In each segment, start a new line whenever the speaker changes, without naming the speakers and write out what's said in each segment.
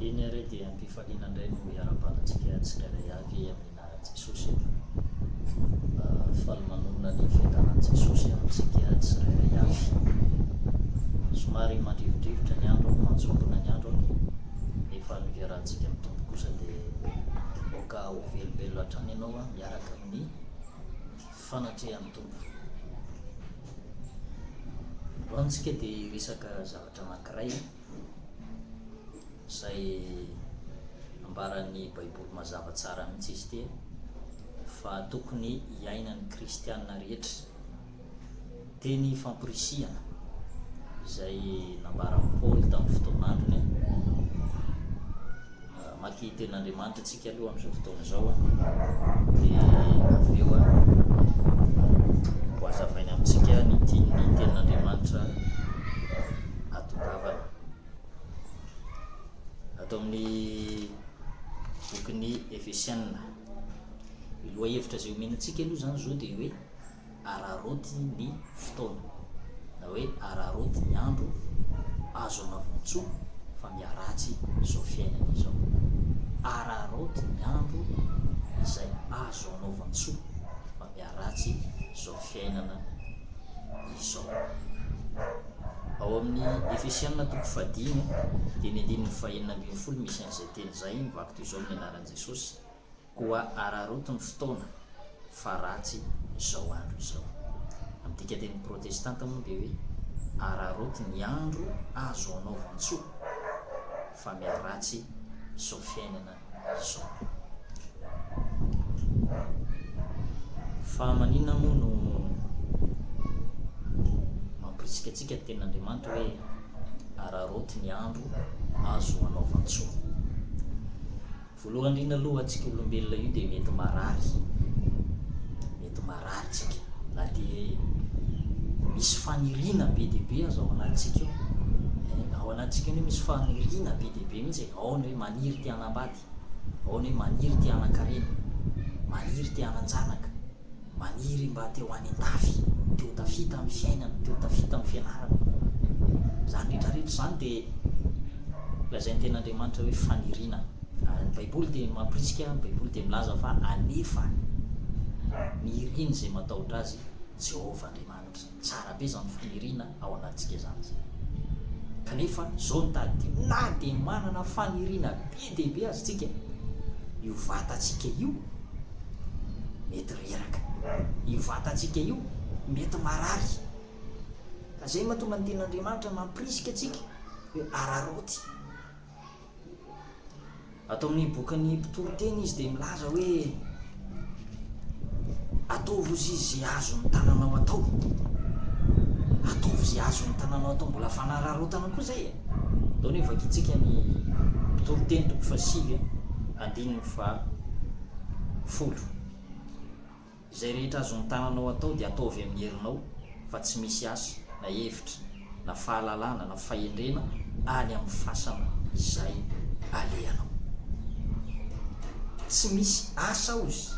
Eny ary dia am-pifaliana indray no hiara-panatrika tsirairay avy amin'ny anaran'i Jesosy eto. Faly manorina ny fiadanan'i Jesosy amintsika tsirairay avy. Somary mandrivondrivotra ny andro, manjombona ny andro, nefa ny fiarahantsika amin'ny Tompo kosa dia aoka ho velobelona hatrany ianao miaraka amin'ny fanatrehan'ny Tompo. Ho antsika dia hiresaka zavatra anankiray izay ambaran'ny Baiboly mazava tsara mihitsy izy ity fa tokony hiainan'ny kristiana rehetra. Teny famporisihana izay nambaran'i Paoly tamin'ny fotoan'androny. Mamaky ny Tenin'Andriamanitra antsika aloha amin'izao fotoana izao, dia avy eo hohazavainy amintsika ny tian'ny Tenin'Andriamanitra hatongavana. Ato amin'ny bokin'ny Efesianina, ny lohahevitra izay omenantsika aloha izany izao dia hoe araraoty ny fotoana na hoe araraoty ny andro azo anavoan-tsoa fa miharatsy izao fiainana izao. Araraoty ny andro izay azo anaovan-tsoa fa miharatsy izao fiainana izao. Ao amin'ny Efesianina toko fahadimy dia ny andininy fahenina ambin'ny folo misy an'izay teny izay, mivaky toy izao ny anaran'i Jesosy, Koa araraoty ny fotoana fa ratsy izao andro izao. Amin'ny dikan-teny protestanta moa dia hoe araraoty ny andro azo anaovan-tsoa fa miharatsy izao fiainana izao. Fa maninona moa no mampirisika antsika ny tenin'Andriamanitra hoe araraoty ny andro azo anaovan-tsoa? Voalohany indrindra aloha antsika olombelona io dia mety marary, mety marary tsika na dia misy faniriana be dia be aza ao anatintsika ao, eh, ao anatintsika anie misy faniriana be dia be mihitsy, ao ny hoe maniry te hanambady, ao ny hoe maniry te hanan-karena, maniry te hanan-janaka. Maniry mba te ho any an-dafy, te ho tafita amin'ny fiainana, te ho tafita amin'ny fianarana. Izany rehetrarehetra izany dia lazain'ny Tenin'Andriamanitra hoe faniriana. Ary ny Baiboly dia mampirisika, ny Baiboly dia milaza fa alefa ny irin'izay matahotra azy, Jehovah Andriamanitra. Tsara be zany faniriana ao anatintsika zany zay. Kanefa zao no tadidio, na dia manana faniriana be dia be aza tsika, io vatantsika io mety reraka, io vatantsika io mety marary. Ka zay mahatonga ny tenin'Andriamanitra mampirisika antsika hoe araraoty. Ato amin'ny bokin'ny Mpitoriteny izy dia milaza hoe, Ataovy ho zizy izay azon'ny tananao atao. Ataovy izay azon'ny tananao atao. Mbola fanararaotana koa izay e. Atao ny hoe vakintsika ny Mpitoriteny toko fahasivy, andininy fahafolo. Izay rehetra azon-tananao atao dia ataovy amin'ny herinao fa tsy misy asa, na hevitra, na fahalalana, na fahendrena any amin'ny fasana izay alehanao. Tsy misy asa hozy,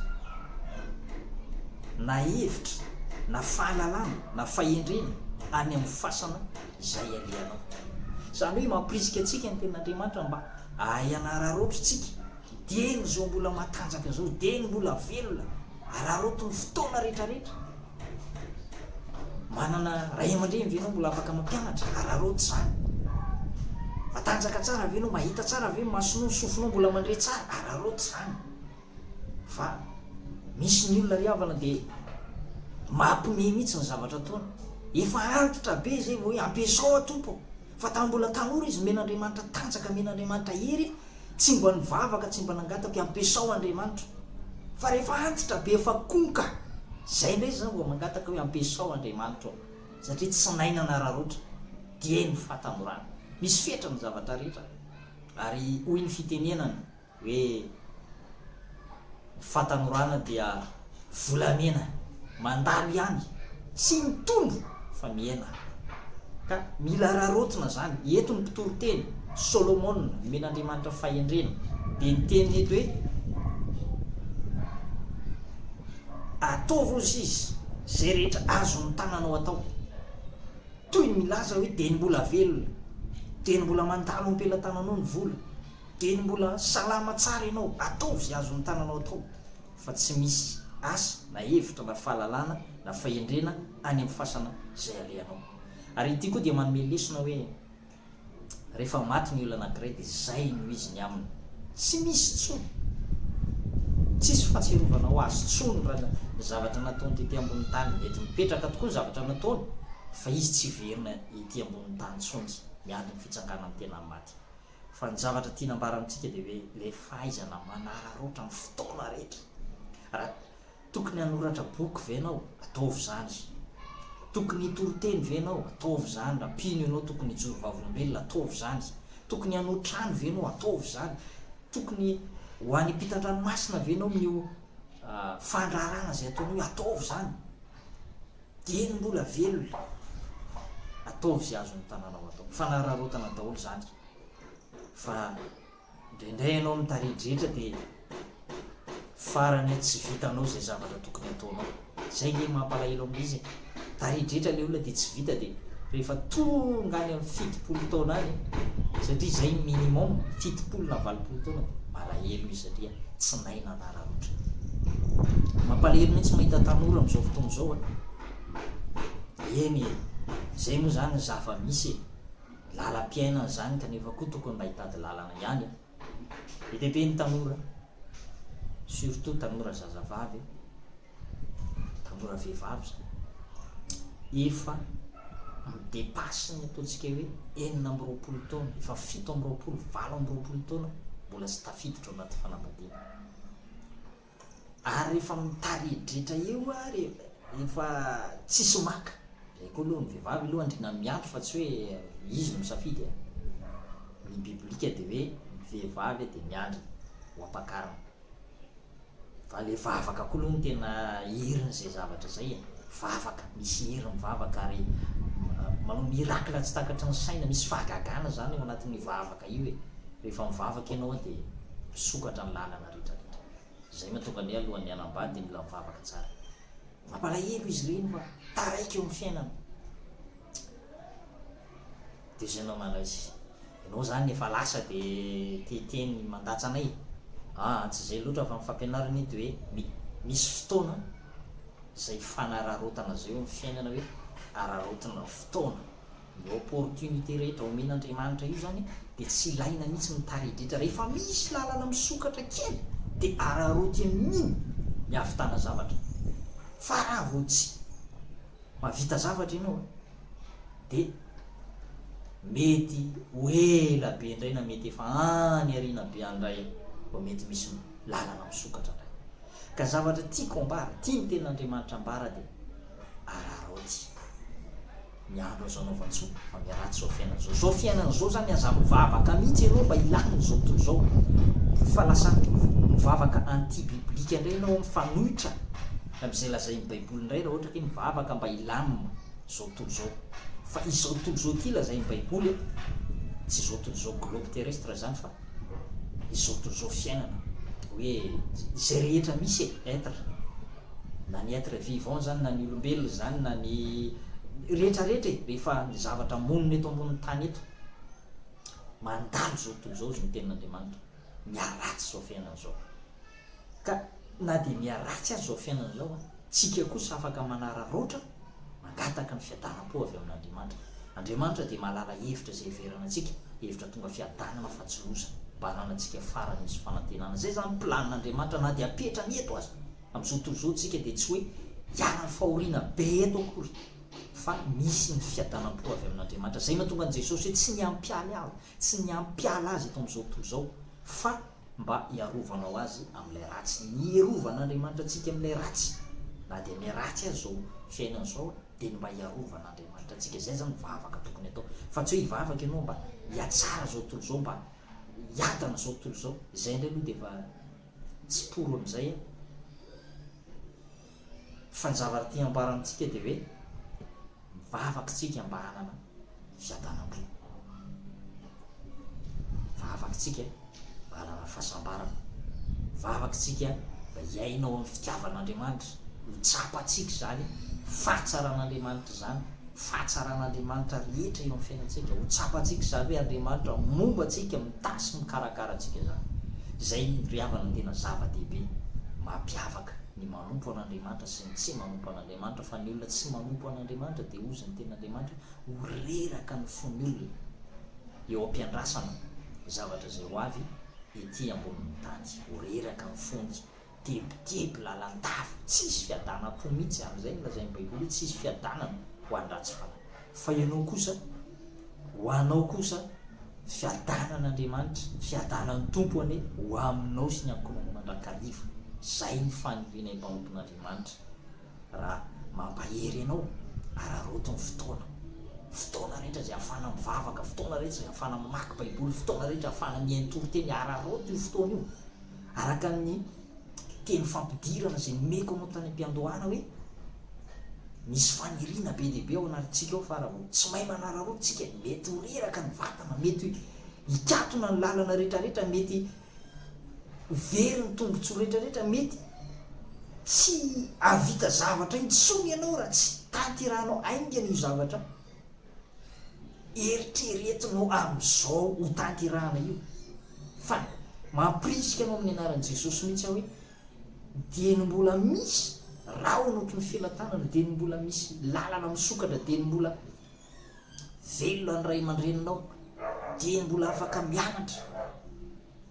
na hevitra, na fahalalana, na fahendrena any amin'ny fasana izay alehanao. Izany hoe mampirisika antsika ny Tenin'Andriamanitra mba hahay hanararaotra isika. Dieny izao mbola matanjaka izao, dieny mbola velona, araraoty ny fotoana rehetrarehetra. Manana ray aman-dreny ve ianao mbola afaka mampianatra? Araraoty izany. Matanjaka tsara ve ianao, mahita tsara ve ny masonao, ny sofinao mbola mandre tsara? Araraoty izany. Fa misy ny olona ry havana dia mampime mihitsy ny zavatra ataony. Efa antitra be izay vao hoe ampiasao aho Tompo ô! Fa tamin'ny mbola tanora izy nomen'Andriamanitra tanjaka, nomen'Andriamanitra hery, Tsy mba nivavaka tsy mba nangataka hoe ampiasao Andriamanitra fa rehefa antitra be efa konka zay ndray zany vao mangataka hoe ampiasao Andriamanitra ô satria tsy nahay nanararaotra dia ny fahatanjorana misy fetra ny zavatra rehetra ary hoy ny fitenenana hoe Fatanorana dia volamena mandalo ihany tsy mitombo fa mihena ka mila raraotina zany eto ny mpitory teny Solomona nomen'Andriamanitra fahendrena dia ny teniny eto hoe ataovy ozy izy zay rehetra azon'ny tananao atao toy ny milaza hoe dia ny mbola velona dia ny mbola mandalo ampelatananao ny vola Dia ny mbola salama tsara ianao, ataovy azon'ny tananao atao, fa tsy misy asa na hevitra na fahalalana na fahendrena any amin'ny fasana izay alehanao. Ary ity koa dia manome lesona hoe, Rehefa maty ny olona anankiray dia izay no izy ny aminy. Tsy misy intsony. Tsisy fahatsiarovanao azy intsony raha ny zavatra nataony tety ambonin'ny tany. Mety mipetraka tokoa ny zavatra nataony, fa izy tsy hiverina ety ambonin'ny tany intsony, miady ny fitsanganany tena amin'ny maty. Fa ny zavatra tiana ambara amintsika dia hoe ilay fahaizana manararaotra amin'ny fotoana rehetra. Raha tokony hanoratra boky ve ianao, ataovy izany. Tokony hitory teny ve ianao, ataovy izany. Raha mpino ianao tokony hijoro vavolombelona, ataovy izany. Tokony hanoa trano ve ianao, ataovy izany. Tokony ho any ampitan-dranomasina ve ianao amin'io fandraharahana izay ataonao io, ataovy izany. Dia ny mbola velona, ataovy izay azon'ny tanàna ao atao. Fanararaotana daholo izany. Fa indraindray ianao ny tarehin-drehetra dia farany hoe tsy vitanao izay zavatra tokony ataonao. Izay ilay mampalahelo amin'ilay izy e. Tarehin-drehetra ilay olona dia tsy vita dia rehefa tonga any amin'ny fitopolo taona any, satria izay ny minimum, fitopolo na valopolo taona, malahelo izy satria tsy naina. naratra. Mampalahelo mihitsy mahita tanora amzao fotoana zao a. Eny e, zay moa zany ny zava misy e. Lalam-piainana zany kanefa koa tokony mba hitady lalana ihany a. Be dia be ny tanora, surtout tanora zazavavy. Tanora vehivavy izany efa mi-depasse ny ataontsika hoe enina amby roapolo taona, efa fito amby roapolo, valo amby roapolo taona mbola tsy tafiditra ao anaty fanambadiana. Ary efa mitaredretra eo ary efa tsisy maka. Izay koa aloha ny vehivavy aloha andriana miato fa tsy hoe izy no misafidy. Eh. Ny biblika dia hoe ny vehivavy dia miandry ho ampakarina. Fa le vavaka koa aloha no tena irin'izay zavatra zay e! Vavaka, misy iry ny vavaka ary manao miracle tsy takatry ny saina, misy fahagagana zany ao anatin'io vavaka io e! Rehefa mivavaka ianao dia misokatra ny lalana retraretra. Zay mahatonga ny hoe alohan'ny hanambady dia mila mivavaka tsara. Mampalahelo izy ireny fa taraiky eo amin'ny fiainana. Deuxième malaise. Enao zany efa lasa de te hiteny mandatsa anay? Aa tsy zay lotra fa ny fampianarana eto hoe mi misy fotoana zay hifanararaotana zay eo am fiainana hoe araraotina fotoana. Ny opportunité rehetra omen Andriamanitra io zany de tsy ilaina mihitsy ny taridritra rehefa misy lalana misokatra kely de araraoty amin iny ny hahavitana zavatra fa raha vao tsy mahavita zavatra enao a. dia mety ho ela be indray na mety efa any aoriana be any indray vao mety misy lalana misokatra indray. Ka zavatra tiako ambara, tia ny tenin'Andriamanitra ambara dia araraoty ny andro azo anaovan-tsoa fa miaratsy izao fiainana izao. Izao fiainana izao zany aza mivavaka mihitsy ianao mba hilany izao tontolo izao fa lasa mivavaka anti biblique indray ianao mifanohitra amin'izay lazain'ny baiboly indray raha ohatra ke mivavaka mba hilamina. izao tontolo izao. Fa izao tontolo izao ity lazain'ny baiboly a, tsy izao tontolo izao globe terrestre izany fa izao tontolo izao fiainana hoe izay rehetra misy e, être, na ny être vivant izany na ny olombelona izany na ny rehetrarehetra e, rehefa ny zavatra monina eto ambonin'ny tany eto. Mandalo izao tontolo izao izy ny tenin'Andriamanitra, miharatsy izao fiainana izao. Ka na dia miha ratsy aza izao fiainana izao, tsika kosa afaka manararaotra mangataka ny fiadaram-po avy amin'Andriamanitra. Andriamanitra dia mahalala hevitra izay heverana antsika, hevitra tonga fiadanana fa tsy loza, mba hananantsika farany misy fanantenana. Izay izany planin'Andriamanitra na dia apetrany eto aza. Amin'izao tontolo izao tsika dia tsy hoe hiaran'ny fahoriana be eto akory, fa misy ny fiadanam-po avy amin'Andriamanitra. Izay mahatonga an'i Jesosy hoe tsy ny hampialy aho, Tsy ny hampiala azy eto amin'izao tontolo izao, fa mba hiarovanao azy amin'ilay ratsy. Ny hirovan'Andriamanitra antsika amin'ilay ratsy, na dia ilay ratsy aza izao fiainana izao, dia ny mba hiarovan'Andriamanitra antsika. Izay izany ny vavaka tokony atao. Fa tsy hoe hivavaka ianao mba hihatsara izao tontolo izao, mba hiadana izao tontolo izao. Izay indray aloha dia efa tsy pory amin'izay an! Fa ny zavatra te hambara amintsika dia hoe mivavaka isika mba hanana fiadanam-po. Mivavaka isika mba hanana fahasambarana. Mivavaka isika mba hiaina ao amin'ny fitiavan'Andriamanitra. Ho tsapantsika izany fahatsaran'Andriamanitra izany, fahatsaran'Andriamanitra rehetra eo amin'ny fiainantsika. Ho tsapantsika izany hoe Andriamanitra momba antsika, mitahy sy mikarakara antsika izany. Izay ry havana no tena zava-dehibe mampiavaka. ny manompo an'Andriamanitra sy ny tsy manompo an'Andriamanitra, fa ny olona tsy manompo an'Andriamanitra dia hozy ny tenin'Andriamanitra ho reraka ny fon'ny olona eo am-piandrasana ny zavatra izay ho avy ety ambonin'ny tany, ho reraka ny fony, tebiteby, lalandava, tsy hisy fiadanam-po mihitsy, amin'izay no lazain'ny Baiboly hoe tsy hisy fiadanana ho an-dratsy fanahy. Fa ianao kosa, ho anao kosa, fiadanan'Andriamanitra, fiadanan'ny Tompo anie ho aminao sy ny ankohonanao mandrakariva. Izay ny faniriana hibaonton'Andriamanitra raha mampahery anao, araraoty ny fotoana. Fotoana rehetra izay ahafahana mivavaka, fotoana rehetra izay ahafahana mamaky Baiboly, fotoana rehetra ahafahana mihaino toriteny, araraoty io fotoana io. Araka ny teny fampidirana izay nomeko anao tany am-piandohana hoe, misy faniriana be dia be ao anatintsika ao fa raha vao tsy mahay manararaotra isika, mety ho reraka ny vatana, mety hikatona ny lalana rehetrarehetra, mety ho very ny tombontsoa rehetrarehetra, mety tsy hahavita zavatra intsony ianao raha tsy tanterahanao haingana io zavatra Eritreretinao amin'izao hotanterahana io fa mampirisika anao amin'ny anaran'i Jesosy mihitsy aho hoe dieny mbola misy rahona ohatry ny felatanana, dieny mbola misy lalana misokatra, dieny mbola velona ny ray aman-dreninao, dieny mbola afaka mianatra.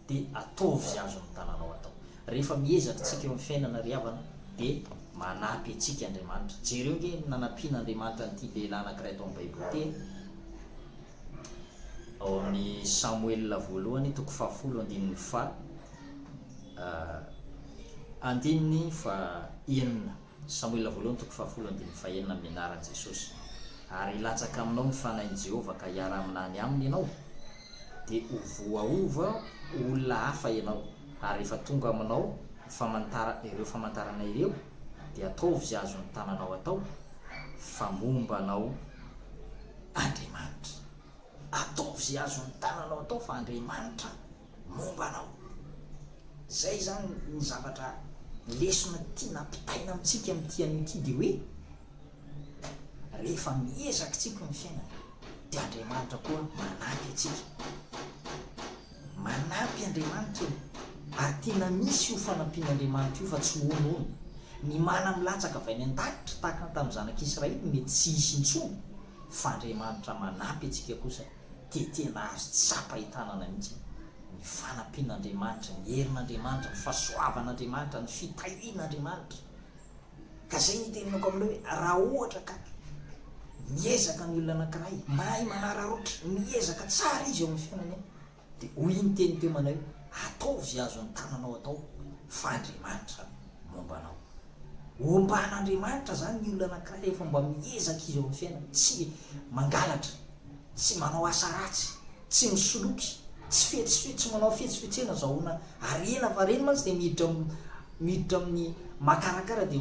dia ataovy izay azon'ny tananao atao. Rehefa miezaka tsika eo amin'ny fiainana ry havana dia manampy antsika Andriamanitra. Jereo nge ny nanampian'Andriamanitra an'ity lehilahy anankiray tao amin'ny Baiboly ity e. Ao amin'ny Samoela voalohany toko fahafolo andininy fa andininy fa enina. Samoela voalohany toko fahafolo andininy fahenina Amin'ny anaran'i Jesosy, ary hilatsaka aminao ny fanahin'i Jehovah ka hiara-mina any aminy ianao, dia ho voaova ho olona hafa ianao, ary rehefa tonga aminao ny famantara ireo famantarana ireo, dia ataovy izay azon'ny tananao atao, fa momba anao Andriamanitra. Ataovy izay azon'ny tananao atao, fa Andriamanitra. momba anao. Zay zany ny zavatra lesona tiana ampitaina amintsika amin'ity anio ity dia hoe rehefa miezaka tsika ny fiainana dia Andriamanitra koa manampy antsika. Manampy Andriamanitra e. Ary tena misy io fanampian'Andriamanitra io fa tsy hono hono. Ny mana milatsaka avy any an-danitra tahaka ny tamin'ny zanak'Israely mety tsy hisy intsony fa Andriamanitra manampy antsika kosa. dia tena azo tsapa hitanana mihitsy ny fanampian'Andriamanitra, ny herin'Andriamanitra, ny fahasoavan'Andriamanitra, ny fitahian'Andriamanitra. Ka izay no itenenako aminareo hoe, raha ohatra ka miezaka ny olona anankiray, mahay manararaotra, miezaka tsara izy eo amin'ny fiainany, dia hoy iny teny teo manao hoe, ataovy azon'ny tananao atao, fa Andriamanitra no. momba anao. Omban'Andriamanitra izany ny olona anankiray rehefa mba miezaka izy eo amin'ny fiainany, tsy mangalatra, tsy manao asa ratsy, tsy misoloky, tsy fetsifetsy, tsy manao fetsifetsena, zahoana harena, fa ireny mantsy dia miditra miditra amin'ny makarakara dia